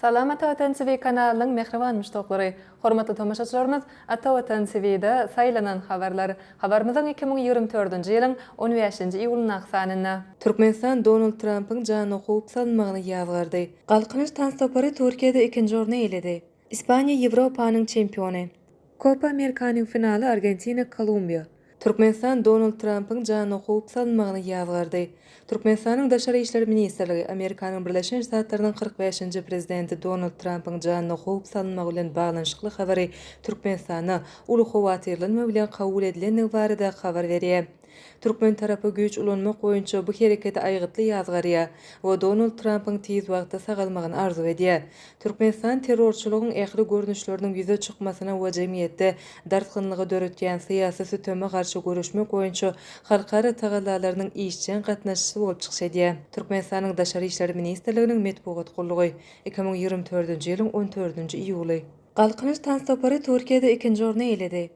Salam Ata Watan TV kanalynyň mähriban muşdaklary! Hormatly tomaşaçylarymyz, Ata Watan TV-de saýlanan habarlar. Habarymyzyň iki müň ýigrimi dördünji ýylyň on bäşinji iýulyndaky sanynda. Türkmenistan Donald Trampyň janyna howp salynmagyny ýazgardy. Galkynyş tans topary Türkiýede ikinji orny eýeledi. Ispaniýa Ýewropanyň çempiony. Kopa Amerikanyň finaly Argentina, Kolumbiýa. Türkmenistan Donald Trampyň janyna howp salynmagyny ýazgardy. Türkmenistanyň Daşary işler ministrligi Amerikanyň Birleşen Ştatlarynyň kyrk bäşinji prezidenti Donald Trampyň janyna howp salynmagy bilen baglanyşykly habary Türkmenistanda uly howatyrlanma bilen kabul edilendigi barada habar berýär. Türkmen tarapy güýç ulanmak boýunça bu hereketi aýgytly ýazgarýar we Donald Trampyň tiz wagtda sagalmagyny arzuw edýär. Türkmenistan terrorçylygyň ähli görnüşleriniň ýüze çykmasyna we jemgyýetde dartgynlygy döretýän syýasy süteme garşy göreşmek boýunça halkara tagallalarynyň işjeň gatnaşçysy bolup çykyş edýär. Türkmenistanyň Daşary işler ministrliginiň metbugat gullugy, iki müň ýigrimi dördünji ýylyň on dördünji iýuly. Galkynyş tanssapary Türkiýede ikinji orny eýeledi.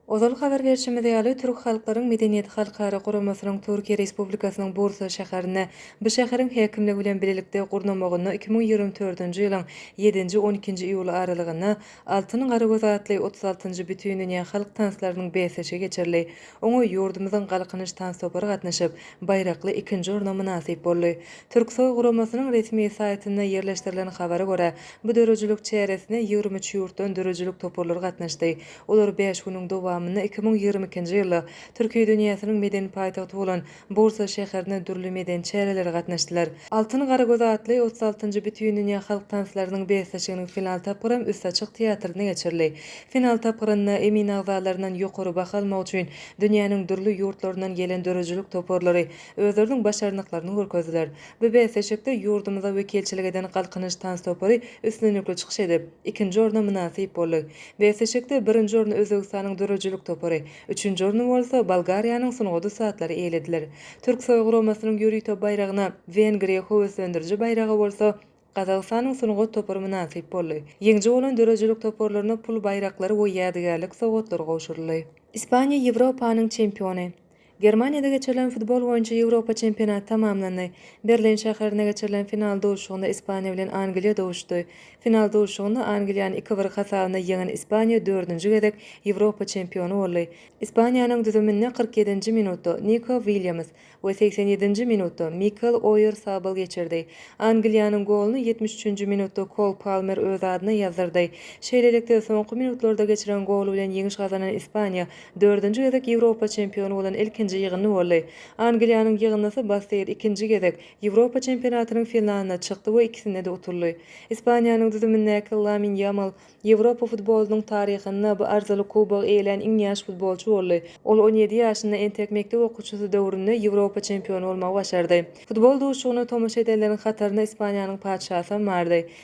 Ozal habar berşimiz ýaly, Türk halklaryň medeniýeti halkara guramasynyň Türkiýe Respublikasynyň Bursa şäherinde, bu şäheriň häkimligi bilen bilelikde gurnamagynda iki müň ýigrimi dördünji ýylyň ýedinji, on ikinji iýul aralygynda Altyn garagöz atly otuz altynjy Bütindünýä halk tanslarynyň bäsleşigi geçirildi. Oňa ýurdumyzyň Galkynyş tans topary gatnaşyp, baýrakly ikinji orna mynasyp boldy. Türksoý guramasynyň resmi saýtynda ýerleşdirilen habara görä, bu döredijilik çäresine ýigrimi üç ýurtdan döredijilik toparlary gatnaşdy. Olar bäş günüň dowamynda iki müň ýigrimi ikinji ýylda Türki dünýäsiniň medeni paýtagty bolan Bursa şäherinde dürli medeni çärelere gatnaşdylar. Altyn garagöz atly otuz altynjy Bütindünýä halk tanslarynyň bäsleşiginiň final tapgyram Üst açyk teatrynda geçirildi. Final tapgyrynda emin agzalaryndan ýokary baha almak üçin dünýäniň dürli ýurtlaryndan gelen döredijilik toparlary özleriniň başarnyklaryny görkezdiler. Bu bäsleşikde ýurdumyza wekilçilik eden Galkynyş tans topary üstünlikli çykyş edip, Ikinji orna mynasyp boldy. Bäsleşikde birinji orny Özbegistanyň döredijilik topary, üçünji orny bolsa Bolgariýanyň sungat ussatlary eýelediler. Türksoý guramasynyň ýörite baýragyna, Wengriýa höweslendiriji baýraga bolsa Gazagystanyň sungat topary mynasyp boldy. Ýeňiji bolan döredijilik toparlaryna pul baýraklary we ýadygärlik sowgatlary gowşuryldy. Ispaniýa Ýewropanyň çempiony. Germaniýada geçirilen futbol boýunça Ýewropa çempionaty tamamlandy. Berlin şäherinde geçirilen final duşuşygynda Ispaniýa bilen Angliýa duşuşdy. Final duşuşygynda Angliýany iki bir hasabynda ýeňen Ispaniýa dördünji gezek Ýewropa çempiony boldy. Ispaniýanyň düzüminde kyrk ýedinji minutda Niko Williams we segsen ýedinji minutda Mikel Oýarzabal geçirdi. Angliýanyň goluny ýetmiş üçünji minutda Kol Palmer öz adyna ýazdyrdy. Şeýlelikde, soňky minutlarda geçiren goly bilen ýeňiş gazanan Ispaniýa Dördünji gezek Ýewropa çempiony bolan ilkinji ýygyndy boldy. Angliýanyň ýygyndysy Basteýr ikinji gezek Ýewropa çempionatynyň finalyna çykdy we ikisinde-de utuldy. Ispaniýanyň düzümindäki Lamin Ýamal Ýewropa futbolynyň taryhynda bu arzyly kubogy eýelän iň ýaş futbolçy boldy. Ol on ýedi ýaşynda entek mekdep okuwçysy döwründe Ýewropa çempiony bolmagy başardy. Futbol duşuşygyna tomaşa edenleriň hatarynda Ispaniýanyň patyşasy hem bardy.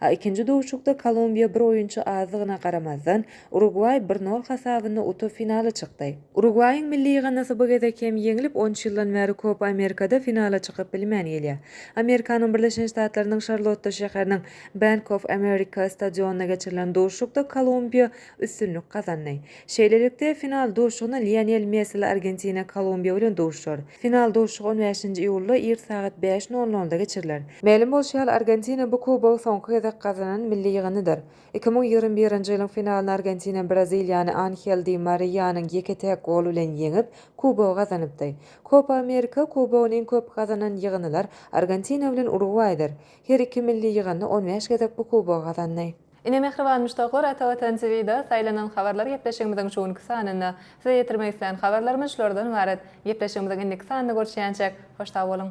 A ikinji duşuşykda Kolumbiýa bir oýunçy azdygyna garamazdan, Urugwaý bir nol hasabynda utup finala çykdy. Urugwaýyň milli ýygyndysy bu gezek hem ýeňlip, on üç ýyldan bäri Kopa Amerikada finala çykyp bilmän gelýär. Amerikanyň Birleşen Ştatlarynyň Şarlotta şäheriniň Bank of America stadionynda geçirilen duşuşykda Kolumbiýa üstünlik gazandy. Şeýlelikde, final duşuşygyna Lionel Messili Argentina Kolumbiýa bilen duşuşar. Final duşuşygy on bäşinji iýulda ir sagat bäş nol nolda geçiriler. Mälim bolşy ýaly, Argentina bu kubogy soňky gezek gazanan milli ýygyndydyr. Iki müň ýigrimi birinji ýylyň finalyny Argentina Braziliýany Anhel Di Mariýanyň ýeke-täk goly bilen ýeňip, kubogy gazanypdy. Kopa Amerika kubogyny iň köp gazanan ýygyndylar Argentina bilen Urugwaýdyr. Her iki milli ýygyndy on bäş gezek bu kubogy gazandy. Ine mähriban muşdaklar Ata Watan TVda saýlanan habarlar gepleşigimiziň şu günki sanynda. Size ýetirmek islän habarlarymyz şulardan ybarat. Gepleşigimiziň indiki sanyny görşýänçäk, hoş sag boluň!